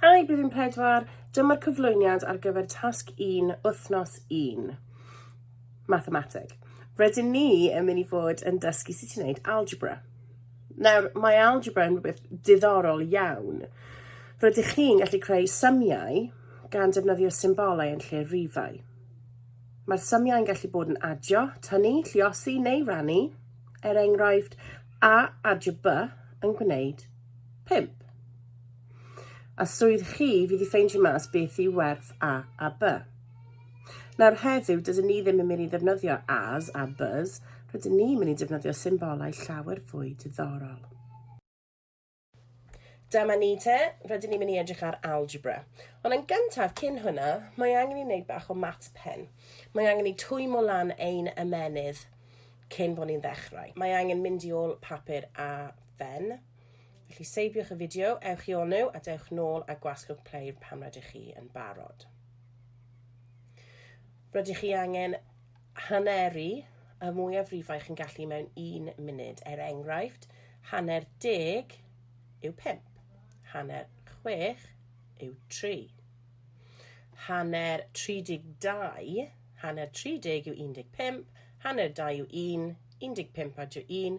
Hi, Blwyddyn Pedwar. Dyma'r cyflwyniad ar gyfer tasg 1, wythnos 1. Mathemateg. Rydyn ni yn mynd i fod yn dysgu sut ti'n gwneud algebra. Nawr, mae algebra yn rhywbeth diddorol iawn. Rydych chi'n gallu creu symiau gan defnyddio symbolau yn lle rifau. Mae'r symiau'n gallu bod yn adio, tynnu, lliosi neu rannu. Er enghraifft, a adio B yn gwneud Pump. A swydd chi fydd i ffeindio mas beth yw werth a a b. Nawr heddiw, dydyn ni ddim yn mynd i ddefnyddio as a bys, rydyn ni'n mynd i defnyddio symbolau llawer fwy diddorol. Dyma ni te, rydyn ni'n mynd i edrych ar algebra. Ond yn gyntaf, cyn hwnna, mae angen i wneud bach o maths pen. Mae angen i twymo lan ein ymenydd cyn bod ni'n ddechrau. Mae angen mynd i ôl papur a Fen. Felly seibiwch y fideo, ewch i onu a dewch nôl a gwasgwch play pan rydych chi yn barod. Rydych chi angen haneru y mwyafrifau chi'n gallu mewn un munud. Er enghraifft, hanner deg yw pump, hanner chwech yw tri, hanner 32, hanner 30 yw 15, hanner 2 yw 1, 15 a 1,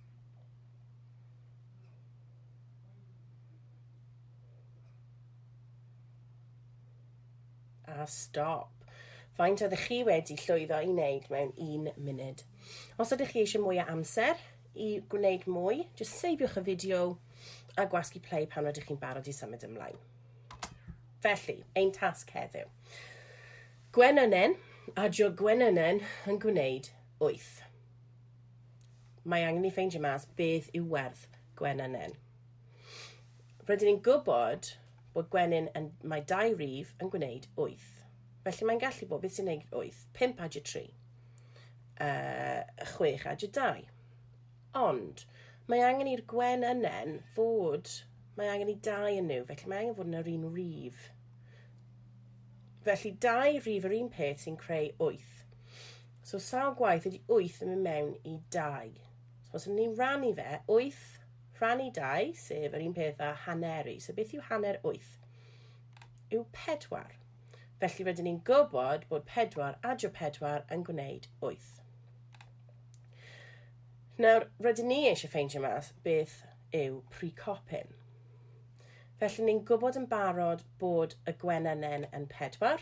a stop. Faint oeddech chi wedi llwyddo i wneud mewn un munud? Os ydych chi eisiau mwy o amser i gwneud mwy, jyst seibiwch y fideo a gwasgu play pan ydych chi'n barod i symud ymlaen. Felly, ein tasg heddiw. Gwenynen a Jo Gwenynen yn gwneud 8. Mae angen ni ffeindio mas beth yw werth gwenynen. Rydyn ni'n gwybod bod gwenyn yn mae dau rif yn gwneud 8. Felly mae'n gallu bod beth sy'n gwneud 8, 5 a 3, uh, 6 a 2. Ond mae angen i'r gwen ynen fod, mae angen i dau yn nhw, felly mae angen fod yn yr un rif. Felly dau rif yr un peth sy'n creu 8. So sawl gwaith ydy 8 yn mynd mewn i 2? So os ydyn ni'n rannu fe, 8 rhannu 2, sef yr un peth â hanneru. So beth yw hanner 8? Yw 4. Felly rydyn ni'n gwybod bod 4 adio 4 yn gwneud 8. Nawr, rydyn ni eisiau ffeindio mas beth yw precopyn. Felly ni'n gwybod yn barod bod y gwennynnen yn pedwar,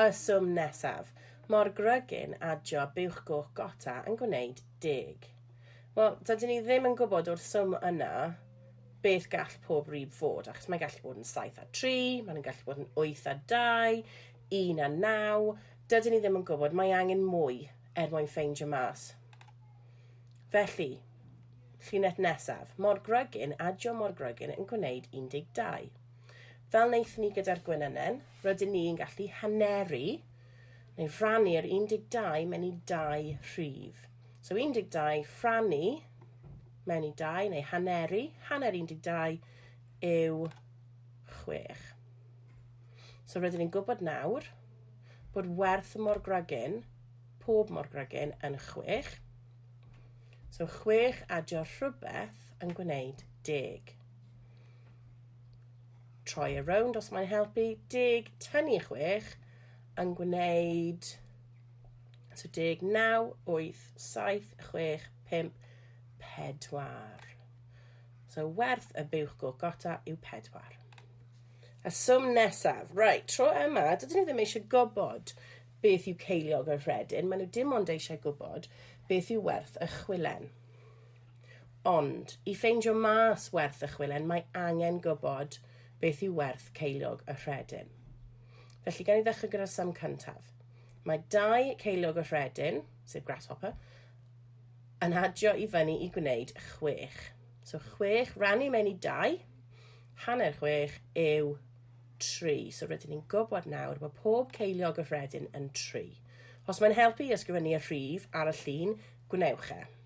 Y swm nesaf. Mor grugyn a job buwch goch gota yn gwneud deg. Wel, dydyn ni ddim yn gwybod o'r swm yna beth gall pob rib fod, achos mae'n gallu bod yn 7 a 3, mae'n gallu bod yn 8 a 2, 1 a 9, dydyn ni ddim yn gwybod, mae angen mwy er mwyn ffeindio mas. Felly, llinell nesaf, mor grygyn a jo mor grygyn yn gwneud 12. Fel wnaethon ni gyda'r gwenynen, rydyn ni'n gallu haneru neu rannu'r 12 mewn i dau rhif. So 12 rhannu mewn i dau neu haneru, hanner 12 yw 6. So rydyn ni'n gwybod nawr bod werth y morgragyn, pob morgragyn, yn 6. So 6 adio rhywbeth yn gwneud 10. Try a rownd os mae'n helpu. Deg tynnu i chwech yn gwneud... So deg naw, wyth, saith, chwech, pump, pedwar. So werth y buwch go gota yw pedwar. A swm nesaf. Right, tro yma, dydyn nhw ddim eisiau gwybod beth yw ceiliog y rhedyn. Maen nhw dim ond eisiau gwybod beth yw werth y chwilen. Ond, i ffeindio mas werth y chwilen, mae angen gwybod beth yw werth ceiliog y rhedyn. Felly, gan i ddechrau gyda'r sam cyntaf. Mae dau ceiliog y rhedyn, sef grasshopper, yn adio i fyny i gwneud chwech. So, chwech rannu mewn i dau, hanner chwech yw tri. So, rydyn ni'n gwybod nawr bod pob ceiliog y rhedyn yn tri. Os mae'n helpu i ysgrifennu y rhif ar y llun, gwnewch e.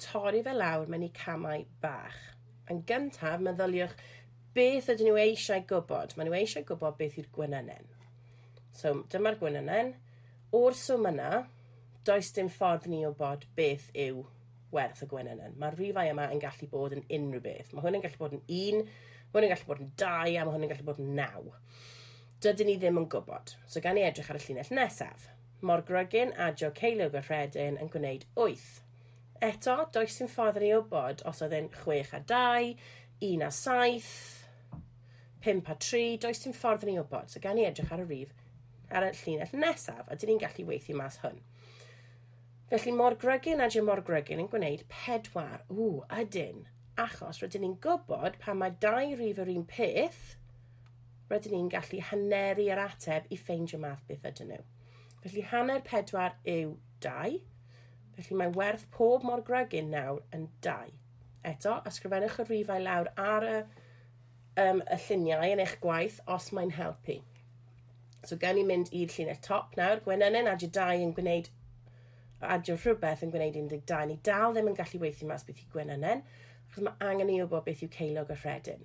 Torri fe lawr mewn i camau bach. Yn gyntaf, meddyliwch beth ydyn nhw eisiau gwybod. Maen nhw eisiau gwybod beth yw'r gwenynen. So, dyma'r gwenynen. O'r swm yna, does dim ffordd ni o bod beth yw werth y gwenynen. Mae'r rhifau yma yn gallu bod yn unrhyw beth. Mae hwn yn gallu bod yn un, mae hwn yn gallu bod yn dau, a mae hwn yn gallu bod yn naw. Dydyn ni ddim yn gwybod. So, gan ni edrych ar y llinell nesaf. Mor grugyn a Jo Ceiliog y Rhedyn yn gwneud wyth. Eto, does dim ffordd i ni wybod os oedd e'n chwech a dau, un a saith, pump a tri, does dim ffordd i ni wybod. So gawn ni edrych ar y rif ar y llinell nesaf, a dyn ni'n gallu weithio mas hwn. Felly mor grygyn a dim mor grygyn yn gwneud pedwar. Ww, ydyn. Achos rydyn ni'n gwybod pan mae dau rif yr un peth, rydyn ni'n gallu haneru yr ateb i ffeindio math beth ydyn nhw. Felly hanner 4 yw 2, felly mae werth pob mor grygyn nawr yn 2. Eto, ysgrifennwch y rhifau lawr ar y, um, y lluniau yn eich gwaith os mae'n helpu. So gawn ni mynd i'r llinell top nawr. Gwenynyn adio 2 yn gwneud adio rhywbeth yn gwneud 12. Ni dal ddim yn gallu weithio mas beth i Gwenynyn, achos mae angen i ni wybod beth yw ceilog y rhedyn.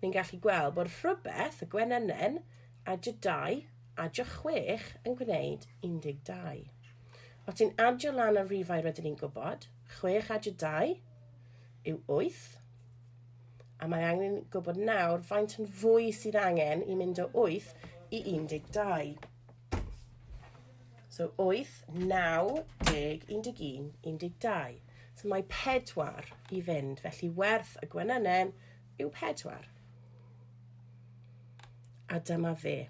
Ni'n gallu gweld bod rhywbeth y gwenynen a j dau a j chwech yn gwneud 12. Os ti'n adio lan y rifau rydyn ni'n gwybod, chwech a j dau yw wyth, a mae angen gwybod nawr faint yn fwy sydd angen i mynd o 8 i 12. So 8, 9, 10, 11, 12. So mae 4 i fynd, felly werth y gwenynen yw pedwar. A dyma fe.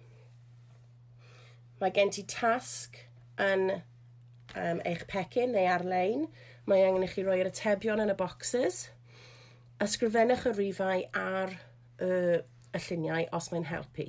Mae gen ti tasg yn um, eich pecyn neu ar-lein. Mae angen i chi roi'r atebion yn y bocsys. Ysgrifennwch y rifau ar y, y lluniau os mae'n helpu.